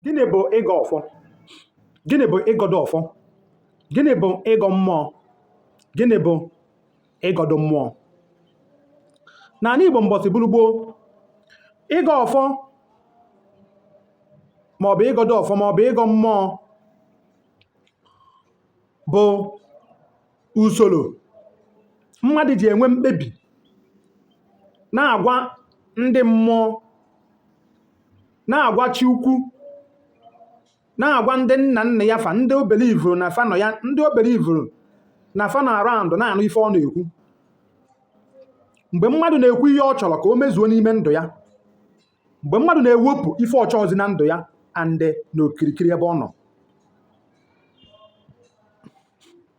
gịnị bụ ịgọ ọfọ gịnị bụ ịgọdọ ọfọ gịnị bụ ịgọ mmụọ gịnị bụ ịgọdọ mmụọ n'ala igbo mbọsị bụrụ gboo ịgọ ọfọ maọbụ ịgọdọ ọfọ maọbụ ịgọ mmụọ bụ usoro mmadụ ji enwe mkpebi na-agwa ndị mmụọ na-agwa chi ukwu na-agwa ndị nna nna ya fa ndị ọ believuru na fa nọ ya ndị ọ believuru na fa nọ around na-anụ ife ọ na-ekwu mgbe mmadụ na-ekwu ihe ọ chọrọ ka o mezuo n'ime ndụ ya mgbe mmadụ na-ewepụ ife ọ chọọzi na ndụ ya and na okirikiri ebe ọ nọ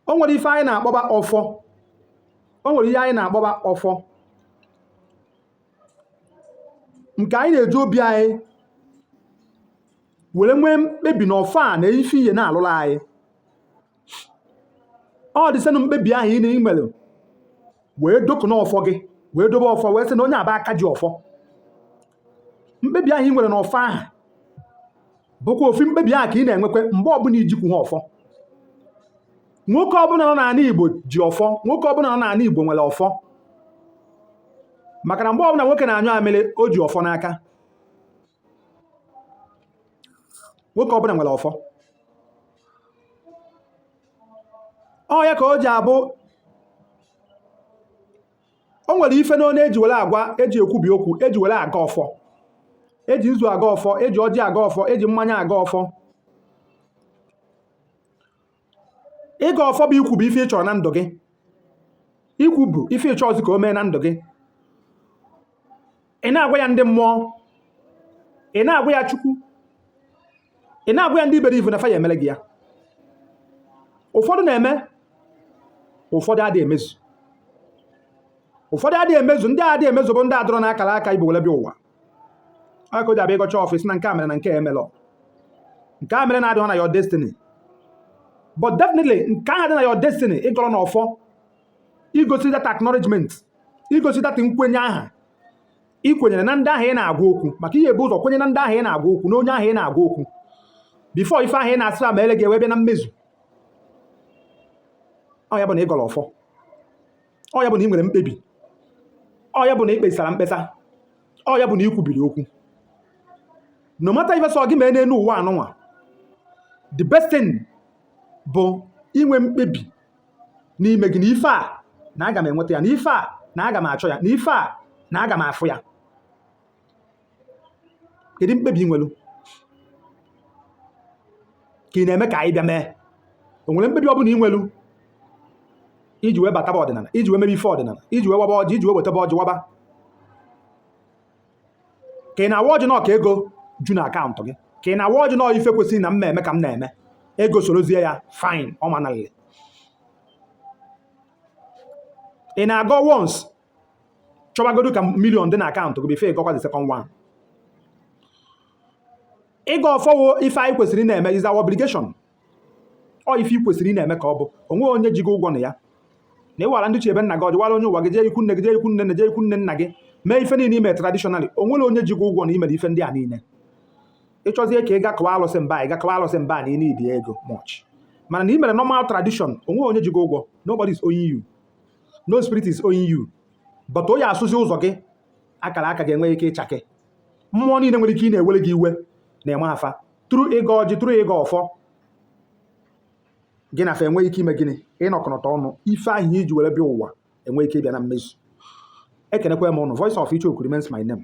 o nwere ife anyị na-akpọba ọfọ o nwere ihe anyị na-akpọba ọfọ nke anyị na-eji obi anyị were nwee mkpebi na ọfọ a na ife ihe na-alụlụ anyị ọ dịsịnụ mkpebi ahụ ị nwere wee dokụ n'ọfọ gị wee dobe ọfọ wee sị na onye a bụ aka ji ọfọ mkpebi ahụ ị nwere n'ọfọ ahụ bụkwa ofu mkpebi ahụ ka ị na-enwekwa mgbe ọbụla i jikwu ha ọfọ nwoke ọbụla nọ n'ala Igbo ji ọfọ nwoke ọbụla nọ n'ala Igbo nwere ọfọ maka na mgbe ọbụla nwoke na-anyụ amịrị o ji ọfọ n'aka nwoke ọbụla nwere ọfọ ọ ya ka o ji abụ o nwere ife n'anọ eji were agọ ya eji ekwubi okwu eji were agọ ọfọ eji nzu agọ ọfọ eji ọjị agọ ọfọ eji mmanya agọ ọfọ ịgọ ọfọ bụ ikwubi ife ị chọrọ na ndụ gị ikwubi ife ị chọọzi ka o mee na ndụ gị ị na-agwa ya ndị mmụọ ị na-agwa ya chukwu ị na-agwa ya ndị ị believe na fa ya-emere gị ya ụfọdụ na-eme ụfọdụ adịghị emezu ụfọdụ adịghị emezu ndị adịghị emezu bụ ndị adịrọ na akara aka i bu were bịa ụwa ọ ya ka o ji abụ ị gọcha ọfọ ị sị na nke a mere na nke a emelọ nke a mere na adịghị na your destiny but definitely nke ahụ dị na your destiny ị gọrọ na ọfọ igosi that acknowledgement igosi that nkwenye aha ị kwenyere na ndị ahụ ị na-agwa okwu maka ị ya-ebu ụzọ kwenye na ndị ahụ ị na-agwa okwu na onye ahụ ị na-agwa okwu before ife ahụ ị na-asị meele gị wee bịa na mmezu ọ ya bụ na ị gọrọ ọfọ ọ ya bụ na ị nwere mkpebi ọ ya bụ na ị kpesara mkpesa ọ ya bụ na ị kwubiri okwu no matter ife sọ gị mee n'elu ụwa anụnwa the best thing bụ inwe mkpebi n'ime gị na ife a na aga m enweta ya na ife a na aga m achọ ya na ife a na aga m afụ ya kedu mkpebi ị nwelu ka ị na-eme ka anyị bịa mee o nwere mkpebi ọ bụla ị nwelu iji wee bataba ọdịnala iji wee mebe ife ọdịnala iji wee waba ọjị iji wee wetaba ọjị waba ka ị na-awa ọjị na ọ ka ego ju na akaụntụ gị ka ị na-awa ọjị na ife kwesịrị na m na-eme ka m na-eme ego sorozie ya fine ọ manalile ị na-agọ once chọbagodu ka million dị na akaụntụ gị before ịgọkwa the second one ịgọ ọfọ wụ ife anyị kwesịrị na-eme is our obligation ọ ife i kwesịrị ị na-eme ka ọ bụ o nweghị onye ji gị ụgwọ na ya na ịwara ndị ichie be nna gị ọjị wara onye ụwa gị jee ikwu nne gị jee ikwu nne nne jee ikwu nne nna gị mee ife niile ime traditionally o nwere onye ji gị ụgwọ na imere ife ndị a niile ịchọzie ka ị ga kọwa alụsị mba ị ga kọwa alụsị mba na ị need ego much mana na ị mere normal tradition o nweghị onye ji gị ụgwọ nobody is owing you no spirit is owing you but ọ ya-asụzi ụzọ gị akara aka ga-enwe ike ịchake mmụọ niile nwere ike ị na-ewere gị iwe na-emeda fa through ịgọ ọjị through ịgọ ọfọ gị na fa enwee ike ime gịnị ịnọkọnọta ọnụ ife ahụ iji were bịa ụwa enwee ike ịbịa na mmezu ekenekwa m ụnụ voice of icheoku remains my name